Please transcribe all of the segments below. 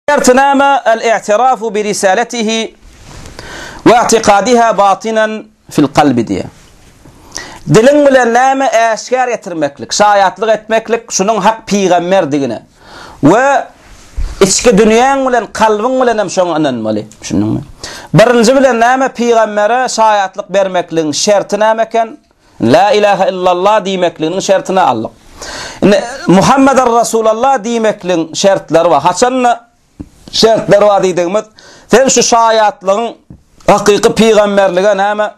Şertnama al-i'tirafu bi risalatihi we i'tikadiha batinan fil kalbi diýýär. Diliň bilen näme äşgär etirmeklik, şaýatlyk etmeklik şunuň hak pygamberdigine we içki dünýäň bilen kalbyň bilen hem şoňa ynanmaly. Düşündiňmi? Birinji bilen näme pygambere şaýatlyk bermekligiň şerti näme eken? La ilahe illallah diýmekliginiň şertini aldyk. Indi Muhammeder Resulallah diýmekligiň şertleri bar. Haçanda şertleri bar diýdigimiz, sen şu şaýatlygyň hakyky pygamberlige näme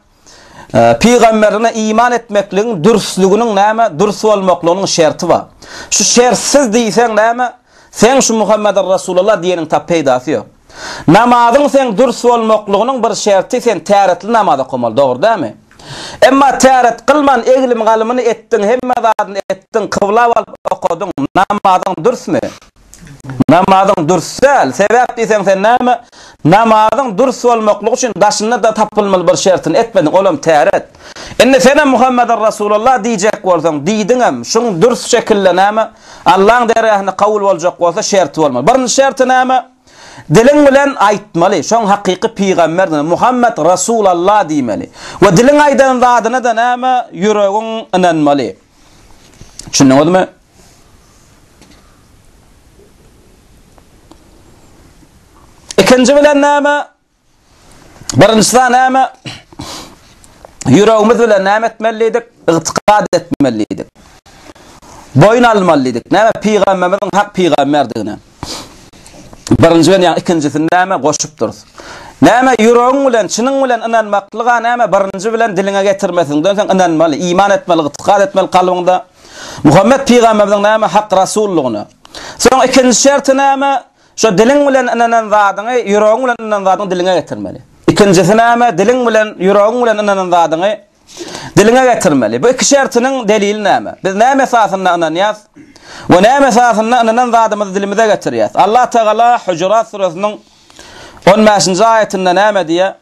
Pygamberine iman etmekligiň dürsliginiň näme dürs bolmaklygynyň şerti bar. Şu şertsiz diýseň näme? Seň şu Muhammedir Resulallah diýeniň tap peýdasy ýok. Namazyň seň dürs bolmaklygynyň bir şerti sen täretli namaz okamaly dogry dämi? Emma täret kylman eglim galymyny etdiň hemme zadyny etdiň kyblap alyp okadyň namazyň dürsmi? Namazyň dürs däl sebäp diýseň sen näme namazyň dürs bolmaklygy üçin daşynda da tapylmaly bir şertini etmediň olam täret. Indi senem Muhammedir Resulallah diýjek bolsaň diýdiňem şuň dürs şekilde näme Allaň dergähinde kabul boljak bolsa şerti bolmaly. Birinji şerti näme? Diliň bilen aýtmaly, şoň hakyky pygamberdigine, Muhammet Rasul Allah diýmeli. We diliň aýdan zadyna-da näme? Ýüregiň ynanmaly. Düşündiňizmi? Ikinji bilen näme? Birinji sany näme? Ýüregimiz bilen näme etmelidik? Ygtykad etmelidik. Boýun almalydyk. Näme? Pygamberimiziň hak pygamberdigine. Birinji bilen ýa ikinjisini näme goşup durus? Näme ýüregiň bilen, çynyň bilen ynanmaklyga näme? Birinji bilen diliňe getirmesiňden soň ynanmaly, iman etmeli, ygtykad etmeli kalbyňda. Muhammet pygamberimiziň näme hak rasullygyna. Soň ikinji şerti näme? Şu diliň bilen ynanan zadyňy, ýüregiň bilen ynanan zadyňy diliňe getirmeli. Ikinjisi näme? Diliň bilen, ýüregiň bilen ynanan zadyňy diliňe getirmeli. Bu iki şertiniň delili näme? Biz näme esasynda ynanýas we näme esasynda ynanan zadymyzy dilimize getirýäs? Allah Tagala Hujurat suresiniň on bäşinji aýatynda näme diýýär?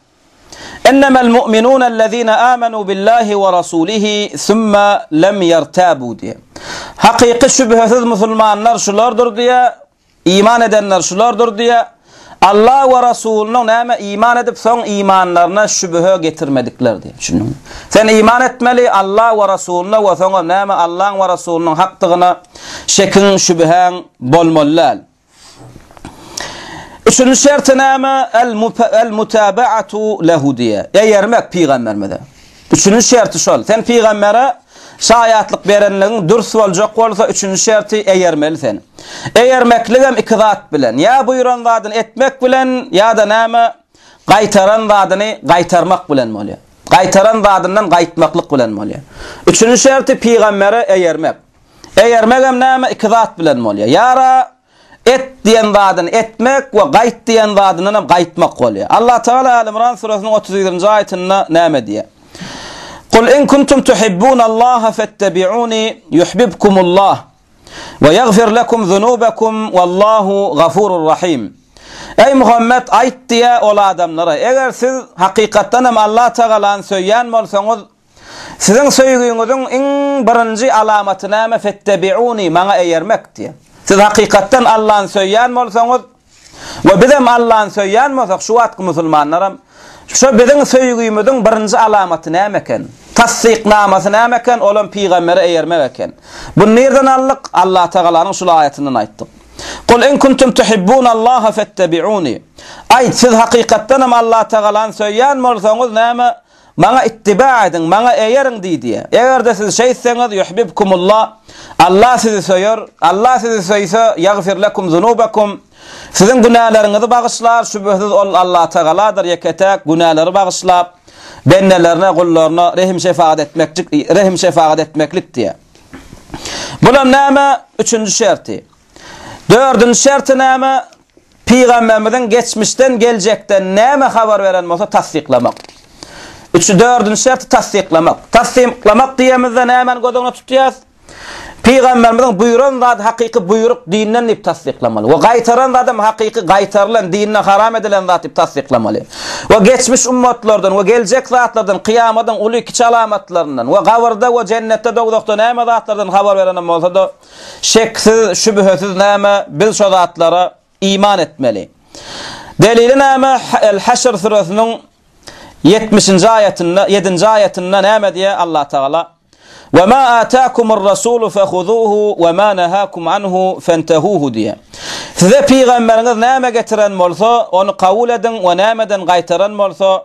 Ennemel mu'minun ellezine amenu billahi we rasulihi summa lem yertabu diýýär. Hakyky şübhesiz musulmanlar şulardyr diýýär. Iman edenler şulardyr diýýär. Alla we Resulyna näme iman edip soň imanlaryna şübhe getirmedikler diýýär. Düşündiňmi? Sen iman etmeli Alla we Resulyna we soňam näme Allaň we Resulynyň hakdygyna şekiň, şübhäň bolmaly däl. Üçünji şerti näme? El-mutabaatu lehu diýýär. Eýermek pygamberimize. Üçünji şerti şol, sen pygambere şaýatlyk berenligiň dürs boljak bolsa, üçünji şerti eýermeli sen. Eýermekligem iki zat bilen, ýa buýran zadyny etmek bilen, ýa-da näme, gaýtaran zadyny gaýtarmak bilen bolýar. Gaýtaran zadyndan gaýtmaklyk bilen bolýar. Üçünji şerti pygambere eýermek. Eýermegem näme, iki zat bilen bolýar. Ýara, Et diýen zadyny etmek we gaýt diýen zadyndan hem gaýtmak bolýar. Allatagala Äl-Imran suresynyň otuz ýedinji aýatynda näme diýýär? Kul in kuntum tuhibbunallaha fettabi'uni yuhbibkumullah we ýagfir lekum zunubakum wallahu gafurur rahim. Eý Muhammet, aýt diýýär ol adamlara, eger siz hakykatdan hem Allatagalany söýýän bolsaňyz, Siziň söýgiňiziň iň birinji alamaty näme? Fettebiuni, maňa eýermek, diýen. Siz hakykatdan Allany söýýän bolsaňyz, we bizem Allany söýýän bolsak, şu wagtky musulmanlaram, şu biziň söýgimiziň birinji alamaty näme eken? Tassyknamasy näme eken? Olam pygambere eýermek eken. Buny nirden aldyk? Allatagalanyň şul aýatyndan aýtdyk. Kul in kuntum tuhibbunallaha fettebiuni. Aýt, siz hakykatdanam Allatagalany söýýän bolsaňyz, näme? Maňa ittiba ediň, Maňa eýeriň diýdi. Eger-de siz şeýtseňiz, yuhbibkumullah, Allah sizi söýer, Allah sizi söýse, ýagfir lekum zunubakum, siziň günäleriňizi bagyşlar, şübhesiz Ol Allatagaladyr, ýeke-täk günäleri bagyşlap, bendelerine, gullaryna rehim-şefagat etmekjik, rehim-şefagat etmeklik diýýär. Bulam näme? Üçünji şerti. Dördünji şerti näme? Pygamberimiziň geçmişden geljekden näme habar beren bolsa tassyklamak. Üçi dördünji şerti tassyklamak. Tassyklamak diýemizde nämäni göz öňüne tutýas? Pygamberimiziň buýran zady hakyky buýruk dinden diýip tassyklamaly. We gaýtaran zadam hakyky gaýtarylan dinde haram edilen zat diýip tassyklamaly. We geçmiş ummatlardan we geljek zatlardan kyýamadyň uly kiçi alamatlaryndan we gabyrda we jennetde dowzahda näme zatlardan habar beren bolsada Şeksiz, şübhesiz näme, biz şo zatlara iman etmeli. Delili näme, El-Haşr süresiniň ýetmişinji aýatynda, ýedinji aýatynda näme diýýär Allatagala? Ve ma ataakumur rasulu fehuzuhu ve ma nahakum anhu fentehuhu diýýär. Size pygamberiňiz näme getiren bolsa, ony kabul ediň we nämeden gaýtaran bolsa,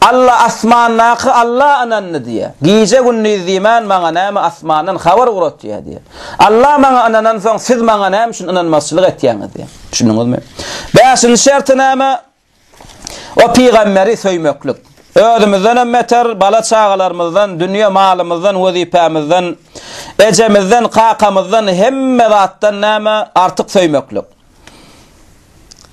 Alla asmandaky Alla ynandy diýýär. Gije-gündiz diýmän maňa näme asmandan habar ugratýar diýýär. Alla maňa ynanansoň siz maňa näme üçin ynanmazçylyk etýäňiz diýýär. Düşündiňizmi? Bäşinji şerti näme? O pygamberi söýmeklik. Özümizdenem beter bala-çagalarymyzdan, dünýe malymyzdan, wezipämizden, ejemizden, kakamyzdan hemme zatdan näme artyk söýmeklik.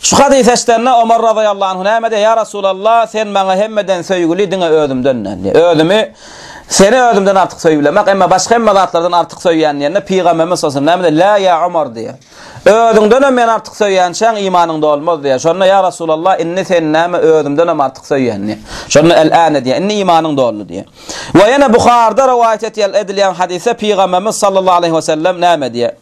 Şu hadysy eşidende Omar razyýallahu anh näme diýýär? Ýa Resulallah, sen maňa hemmeden söýgüli, diňe özümden däl diýýär. Özümi, seni özümden artyk söýülemok, emma başga hemme zatlardan artyk söýýän diýende Pygamberimiz sallallahu aleyhi ve sellem näme diýýär? Lä ýa Omar diýýär. Özüňdenem meni artyk söýýänçäň imanyň dolmaz diýýär. Şonda ýa Resulallah, indi seni näme özümdenem artyk söýýän diýýär. Şonda el-ane diýýär. Indi imanyň doldy diýýär. We ýene Buharda rowaýat edilýän hadysda Pygamberimiz sallallahu aleyhi ve sellem näme diýýär?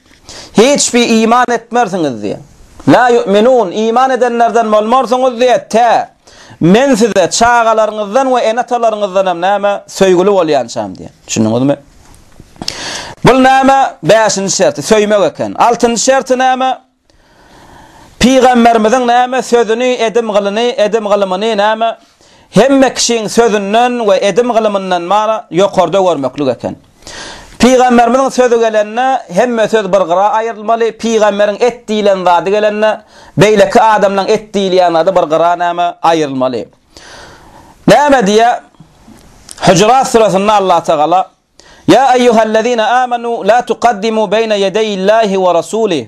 Hiç bir iman etmersiňiz diýen. Lâ yu'minûn, iman edenlerden bolmarsyňyz diýen, tä Men size çagalaryňyzdan we ene-atalaryňyzdan hem näme, söýgüli bolýançam diýen. Düşündiňizmi? Bul näme, bäşinji şerti, söýmek eken. Altynjy şerti näme, Pygamberimiziň näme, sözüni, edim-gylyny, edim-gylymyny näme, hemme kişiň sözünden we edim-gylymyndan mara, ýokarda görmeklik eken. Pygamberimiziň sözi gelende, hemme söz bir gyra aýrylmaly, pygamberiň et diýlen zady gelende, beýleki adamlaryň et diýilýän zady bir gyra näme, aýrylmaly. Näme diýýär? Hujurat süresinde Allah Tagala, Ýa eýýuhellezine âmenû la tukaddimû beýne ýedeýillâhi we rasûlih,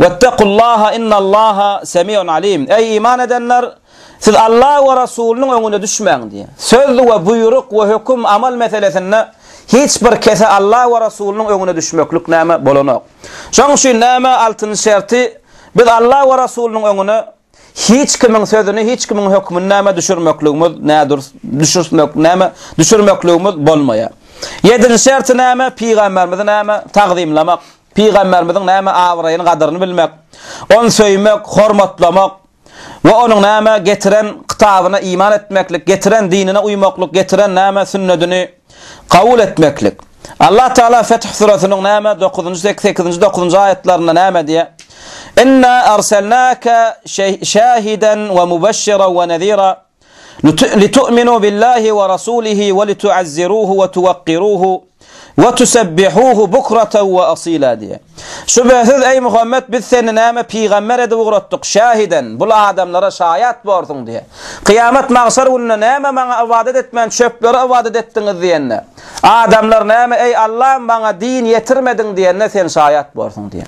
wettekullâhe innallâhe semî'un alîm. Eý iman edenler! Siz Alla we Rasulynyň öňüne düşmäň diýýär. Söz we buýruk we höküm, amal meselesinde hiç bir kese Alla we Rasulynyň öňüne düşmeklik näme, bolanok. Şonuň üçin näme, altyn şerti, biz Alla we Rasulynyň öňüne hiç kimiň sözüni, hiç kimiň hökmüni näme, düşürmekligimiz, nädürs, düşürtmek, näme, düşürmekligimiz bolmaýar. Ýedinji şerti näme, pygamberimizi näme, tagzymlamak, pygamberimiziň näme, abraýyny, gadyryny bilmek, ony söýmek, hormatlamak, we onuň näme getiren kitabyna iman etmeklik, getiren dinine uýmaklyk, getiren näme sünnedini kabul etmeklik. Allah Taala Feth surasynyň näme dokuzynjy sek sekizinji dokuzynjy aýatlarynda näme diýýär? Inna arsalnaka şe şahiden we mubeşşiran we nezira. Litu'minu billahi we rasulihi we litu'azziruhu we tuwakkiruhu we tusebbihuhu bukratan we asila diýýär. Şübhesiz, eý Muhammet, biz seni näme pygamber edip ugratdyk, şähiden, bul adamlara şaýat borsuň diýýär. Kyýamat magşar gününde näme maňa ybadat etmän çöplere ybadat etdiňiz diýende, adamlar näme, eý Allam, maňa din ýetirmediň diýende sen şaýat borsuň diýýär.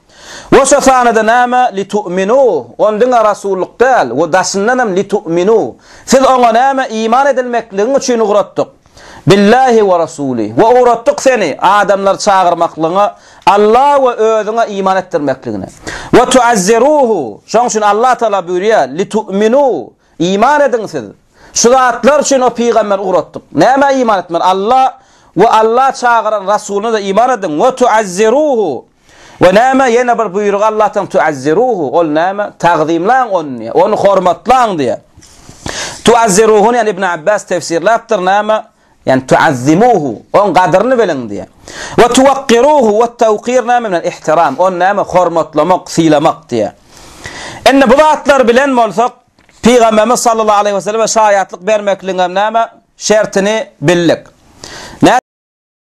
We şo sanyda näme, litu'minu, ony diňe rasullyk däl, we daşyndan hem litu'minu, siz oňa näme, iman edilmekligiň üçin ugratdyk, billahi we rasuli, we ugratdyk seni adamlary çagyrmaklygyňa Alla we özüňe iman etdirmekligine, we tu'azziruhu, şoň üçin Alla Taala buýurýar, litu'minu, iman ediň siz, şu zatlar üçin o pygamberi ugratdyk, nämä iman etmeli, Alla we Alla çagyran rasulyna-da iman ediň, we tu'azziruhu, We näme, ýene bir buýrug Allahdan, tu'azziruhu, ol näme, tagzymlaň ony diýýär, ony hormatlaň diýýär. Tu'azziruhuny, ýani Ibn Abbas tefsirläpdir, näme, ýani tu'azzimuhu, oň gadyryny biliň diýýär. We tuwakkiruhu, wat-tawkir näme bilen, ihtiram, ony näme, hormatlamak, sylamak diýýär. Indi bu zatlar bilen bolsak, Pygamberimiz sallallahu aleýhi we selleme şaýatlyk bermekligiňem näme, şertini bildik.